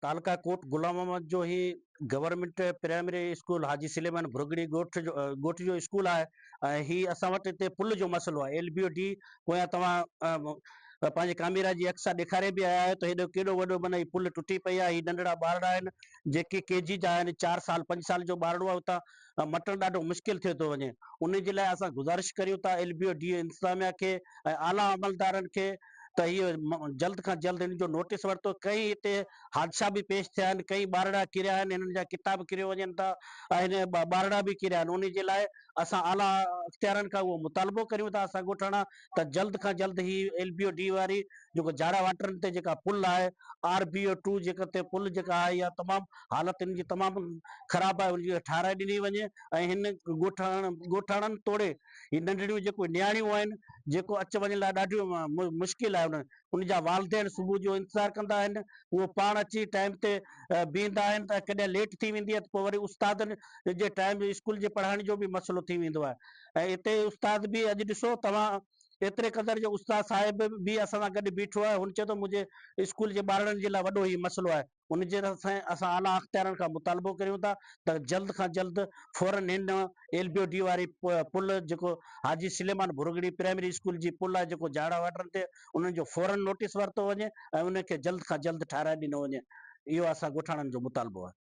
تعلقه ڪوٽ غلام محمد جو هي government primary school Haji Suleman Bhargari ڳوٺ جو ڳوٺ جو اسڪول آهي ۽ هي اسان وٽ هتي پل جو مسئلو آهي ايل بي او ڊي پويان توهان پنهنجي ڪاميرا جي اڪسا ڏيکاري به آيا آهيو ته هيڏو ڪيڏو وڏو معنيٰ هي پل ٽٽي پئي آهي هي ننڍڙا ٻارڙا آهن جيڪي ڪي جي جا آهن چار سال پنج سال جو ٻارڙو آهي اتان مٽڻ ڏاڍو مشڪل ٿيو ٿو وڃي ان جي لاء اسان گذارش ڪريون ٿا ايل بي او ڊي انتظاميا کي ۽ اعليٰ عملدارن کي ته هيء جلد کان جلد هن جو نوٽيس ورتو. ڪئين هتي حادثا به پيش ٿيا آهن، ڪئين ٻارڙا ڪريا آهن، هنن جا ڪتاب ڪريو وڃن ٿا ۽ ٻارڙا به ڪريا آهن، انهي جي لاء اسان اعليٰ اختيارن کان اهو مطالبو ڪريون ٿا اسان ڳوٺاڻا ته جلد کان جلد هي ايل بي او ڊي واري جيڪو جاڙا واٽرن تي جيڪا پل آهي آر بي او ٽو جيڪا تي پل جيڪا آهي اها تمام حالت هن جي تمام خراب آهي ان جي ٺاهرائي ڏني وڃي ۽ هن ڳوٺاڻن توڙي هي ننڍڙيون جيڪو نياڻيون آهن جيڪو اچ وڃ لاء ڏاڍيون مشڪل آهي ان جا والدين صبح جو انتظار ڪندا آهن اهو پاڻ اچي ٽائيم تي بيهندا آهن ته ڪڏهن ليٽ ٿي ويندي آهي ته پوء وري استادن جي ٽائيم اسڪول جي پڙهائڻ جو به مسئلو ٿي ويندو آهي ۽ اتي استاد به اڄ ڏسو توهان ايتري قدر جو استاد صاحب به اسان سان گڏ بيٺو آهي هن چيو ته منهنجي اسڪول جي ٻارڙن جي لاء وڏو هي مسئلو آهي ان جي طرف اسان اعليٰ اختيارين کان مطالبو ڪريون ٿا ته جلد کان جلد فورا هن ايل بي او ڊي واري پل جيڪو حاجي سليمان ڀرڳڙي پرائمري اسڪول جي پل آهي جيڪو جاڙا واٽرن تي انهن جو فورا نوٽيس ورتو وڃي ۽ ان کي جلد کان جلد ٺاهرائي ڏنو وڃي اهو اسان ڳوٺاڻن جو مطالبو آهي.